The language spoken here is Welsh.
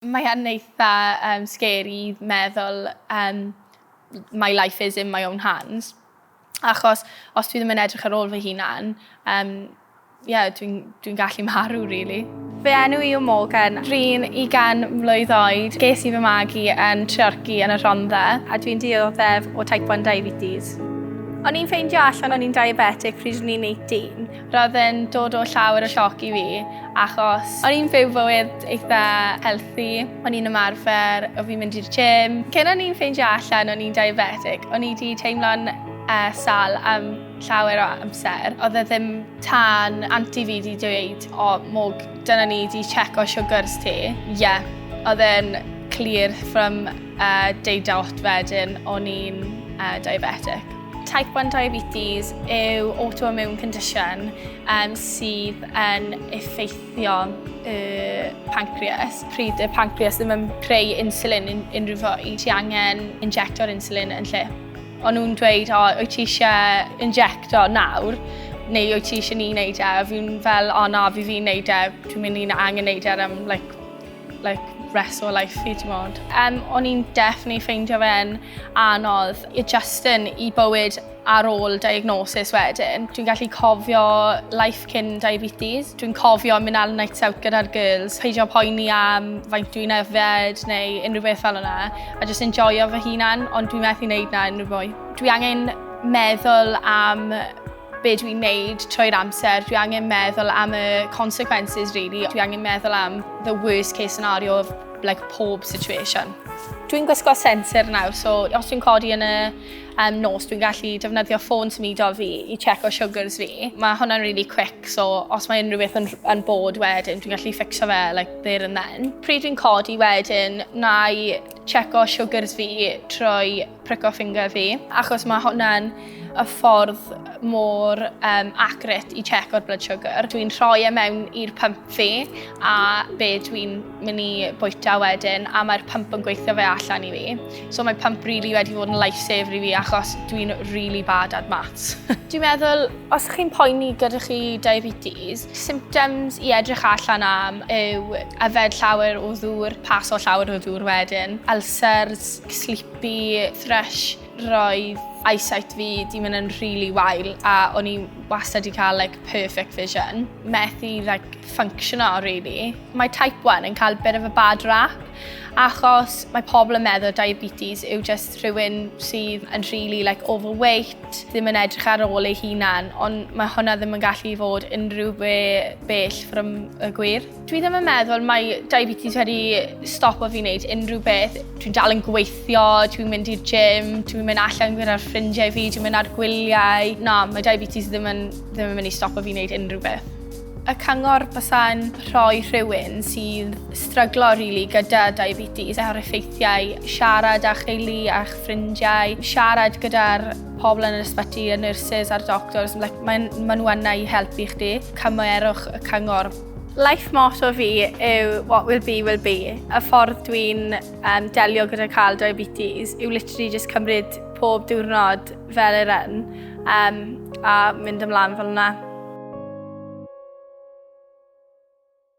Mae yn eitha um, scary i meddwl um, my life is in my own hands. Achos os dwi ddim yn edrych ar ôl fy hunan, um, yeah, dwi'n dwi gallu marw, really. Fy enw i yw Morgan, dwi'n 20 mlwydd oed, ges i fy magu yn Treorci yn y Rhondda a dwi'n dioddef o type 1 diabetes. O'n i'n ffeindio allan o'n i'n diabetic pryd o'n i'n 18. Roedd e'n dod o llawer o sioc i fi achos o'n i'n byw bywyd eitha healthy, o'n i'n ymarfer, o fi'n mynd i'r gym. Cyn o'n i'n ffeindio allan o'n i'n diabetic, o'n i 'di teimlo'n sâl am llawer o amser. Oedd e ddim tan anti fi 'di dweud 'O mwg, dyna ni, 'di tseco siwgrs ti'. Ie, oedd e'n clir from day dot wedyn o'n i'n diabetic. Type 1 diabetes yw autoimmune condition um, sydd yn effeithio y pancreas. Pryd y pancreas ddim yn creu insulin yn unrhyw fwy, ti angen injecto'r insulin yn lle. Ond nhw'n dweud, o, wyt ti eisiau injecto nawr, neu wyt ti eisiau ni wneud e? A fi'n fel, o na, fi fi'n wneud e, dwi'n mynd i'n angen wneud e am like, like, rest o life fi, ti'n modd. Um, o'n i'n definitely ffeindio fe'n anodd i Justin i bywyd ar ôl diagnosis wedyn. Dwi'n gallu cofio life cyn diabetes. Dwi'n cofio mynd al nights out gyda'r girls, peidio poeni am faint dwi'n yfed neu unrhyw beth fel yna, a just enjoyo fy hunan, ond dwi'n methu wneud na unrhyw fwy. Dwi angen meddwl am be dwi'n neud trwy'r amser, dwi angen meddwl am y consequences really, dwi angen meddwl am the worst case scenario of like pob situation. Dwi'n gwisgo sensor nawr, so os dwi'n codi yn y um, nos, dwi'n gallu defnyddio ffôn symudo fi i checo sugars fi. Mae hwnna'n really quick, so os mae unrhyw beth yn, yn bod wedyn, dwi'n gallu ffixo fe like, there and then. Pryd dwi'n codi wedyn, na i checo sugars fi trwy prico ffinger fi, achos mae hwnna'n y ffordd mor um, accurate i check o'r blood sugar. Dwi'n rhoi e mewn i'r pump fi a be dwi'n mynd i bwyta wedyn a mae'r pump yn gweithio fe allan i fi. So mae pump really wedi bod yn lifesaver i fi achos dwi'n really bad at maths. dwi'n meddwl, os chi'n poeni gyda chi diabetes, symptoms i edrych allan am yw yfed llawer o ddŵr, paso llawer o ddŵr wedyn, ulcers, sleepy, thrush, roedd eyesight fi di mynd yn rili really wael a o'n i wastad i cael like, perfect vision. Methu like, functiono, really. Mae type 1 yn cael bit of a bad rap achos mae pobl yn meddwl diabetes yw just rhywun sydd yn really like, overweight, ddim yn edrych ar ôl ei hunan, ond mae hwnna ddim yn gallu fod unrhyw be bell from y gwir. Dwi ddim yn meddwl mae diabetes wedi stopo fi wneud unrhyw beth. Dwi'n dal yn gweithio, dwi'n mynd i'r gym, dwi'n mynd allan gyda'r ffrindiau fi, dwi'n mynd ar gwyliau. Na, mae diabetes ddim yn, ddim yn mynd i stopo fi wneud unrhyw beth. Y cyngor bysa'n rhoi rhywun sy'n stryglo rili really, gyda diabetes a'r effeithiau, siarad â cheili a'ch ffrindiau, siarad gyda'r pobl yn yr ysbyty, y nurses a'r doctors, like, maen, maen nhw yna i helpu chdi. Cymerwch y cyngor. Life motto fi yw what will be will be. Y ffordd dwi'n um, delio gyda cael diabetes yw literally just cymryd pob diwrnod fel yr un um, a mynd ymlaen fel yna.